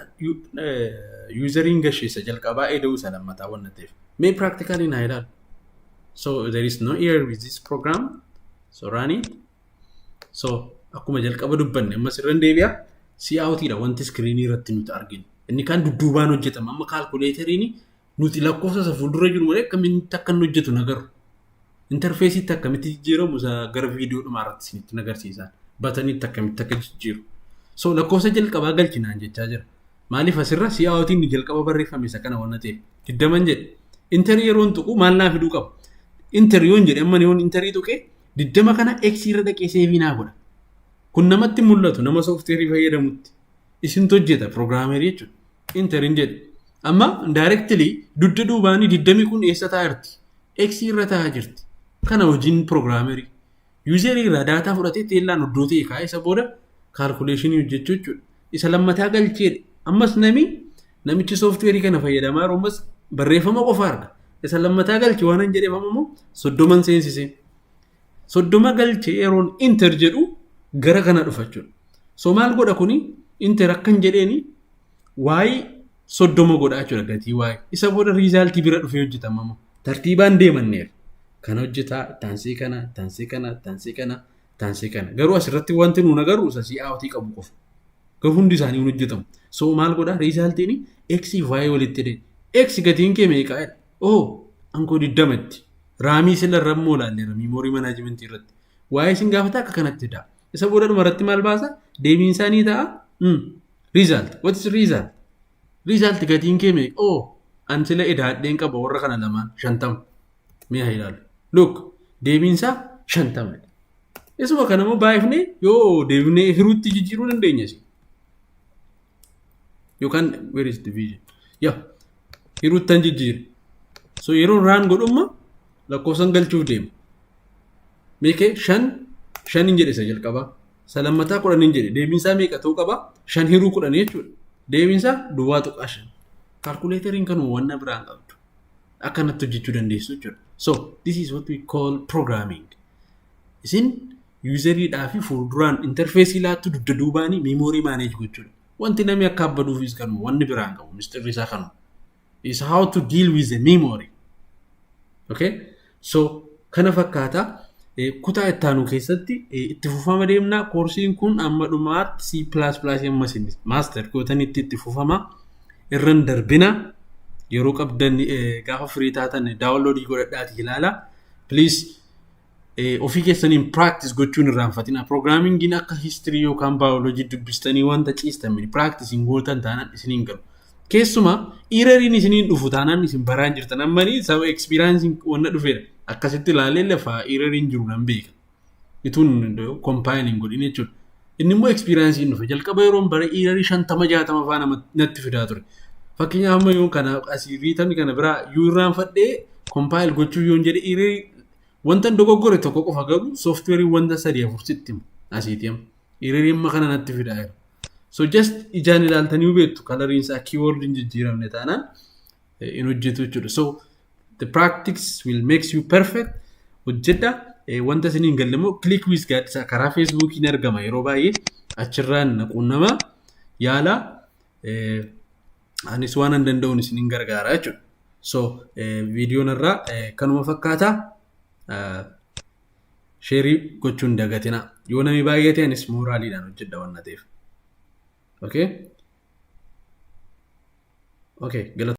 yuuzariin gasheessa jalqabaa eda'uu isa lammataa waan ta'eef. Mee practically naa ilaalu. So there is no error with this program. So run it. So akkuma jalqaba dubbanne ammas irra deebi'a. Si'aawutiidha wanti iskiriinii irratti nuti arginu. Inni kaan dudduubaan hojjetama. Amma kaalkuleeteriin nuti lakkoofsa isa fuuldura jiru malee akkamitti akka inni hojjetu hin agarru. Interfeesiitti akkamitti jijjiiramu isa gara viidiyoo dhumaa irratti isinitti hin agarsiisan. Bataniitti akkamitti akka jijjiiru. So lakkoofsa jalqabaa galchinaan jechaa jira. Maaliif asirra si'aawwatiin inni jalqaba barreeffame isa kana waan ta'eef. Digdaman jedhe. Interii yeroon tuqu maal naa fiduu qaba? Interii yoon jedhe amma yoon interii tuqee digdama kana X irra dhaqee seevii naa godha. Kun namatti mul'atu nama soofteerii fayyadamutti. Isintu hojjeta pirogiraamerii jechuudha. Enter hin jedhe. Amma directly dudda duubaanii diddamii kun eessa taa'aa jirti? X irra taa'aa jirti. Kana hojiin programmeri. User irraa daataa fudhatee teellaan iddoo ta'e kaa'ee isa booda calculation hojjechuu jechuudha. Isa lammataa galcheedha. Ammas nami namichi software kana fayyadamaa jiru ammas barreeffama qofa arga. Isa lammataa galche waan hin jedheef amma immoo soddoman seensisee. soddoma galche yeroon inter jedhu gara kana dhufa jechuudha. So maal godha kuni inter akkan jedheeni waa'ee soddoma godha jechuudha gatii waa'ee. Isa booda riizaaltii bira dhufee hojjetama immoo. Tartiibaan deemanneef kan hojjetaa taansii kana taansii kana taansii kana taansii kana garuu asirratti wanti nuun agarru isa si'aawtii qabu qofa. Garuu hundi isaanii hin hojjetamu. So maal godha riizaaltiin x fi y walitti hidhee x gatiin kee meeqaa jedha. Oh, ankoo 20 itti. Raamii sila irra immoo ilaalle ramii moorii manaajimentii irratti. Waa'ee isin gaafata akka kanatti fidaa. Isa booda dhuma irratti maal baasa? Deebiin isaa ni ta'a. Mm. Result. What is result? Result gatiin kee meeqa? Oh, an sila edaadheen qaba warra kana lamaan shantama. Mee haa ilaalu. Look, deebiin isaa shantama. Isuma kana immoo baay'ifnee yoo deebinee hiruutti jijjiiruu dandeenya. Yookaan where is division? Yaa hiruuttan jijjiire so yeroo raan godhumma lakkoofsan galchuuf deema meeqa shan shan hin jedhe isa jalqabaa isa lammataa kudhan hin jedhe deebiinsaa meeqa ta'uu qaba shan hiruu kudhan jechuudha deebiinsaa duwwaa tuqaa shan kaalkuleeteriin kanuma wanna biraan qabdu akkanatti hojjechuu dandeessu jechuudha so this is what we call programming isin Yuuzarii dhaafi fuulduraan interfeesii laattu dugda duubaanii miimoorii maaneej gochuudha. Wanti namni akka abbaduufis kanuma wanni biraan qabu misxirri isaa kanuma. Is how to deal with the memory. Okay? So kana fakkaata kutaa itti aanu keessatti itti fufama deemna. Koorsiin kun amma dhumaatti C++ amma isin maaster gootanitti itti fufama. Irran darbina yeroo qabdan gaafa firii taatan daawunloodii godhadhaati ilaala. Please eh, ofii keessaniin practice gochuu hin irraanfatina. Programmingin akka history yookaan biology dubbistanii wanta ciistan miti. Practice hin gootan taanaan isin hin galu. Keessumaa erroriin isiniin dhufu taanaan isin baraan jirtan. Ammanii saba experience wanna dhufeera. Akkasitti ilaalee lafa erroriin jiru nan beeka. Ituun compiling godhin jechuudha. Inni immoo experience hin dhufe. Jalqaba yeroon bara errorii shantama jaatama faa nama natti fidaa ture. Fakkeenyaaf amma yoon kana asii riitan kana biraa yoo irraanfadhee compile gochuu yoon jedhe errorii Wantan dogoggore tokko qofa garuu sooftiweeriin wanta sadii afur sitti himu asiiti amma. Hiriirii amma kana natti fidaa jira. So just ijaan ilaaltanii beektu kalariin isaa keyword hin jijjiiramne taanaan eh, hin hojjetu jechuudha. So the practice will makes you perfect hojjedha. Eh, Wanta isin hin galle immoo click with gaaddisaa karaa feesbuukii ni argama yeroo baay'ee achirraan na quunnamaa yaala. Eh, anis waan an danda'uun isin hin gargaara jechuudha. So viidiyoon irraa kanuma fakkaata. Sheerii gochuun dagatina. Yoo namni baay'ee ta'e anis mooraaliidhaan hojjedha waan ta'eef. Okay? Okay, galata.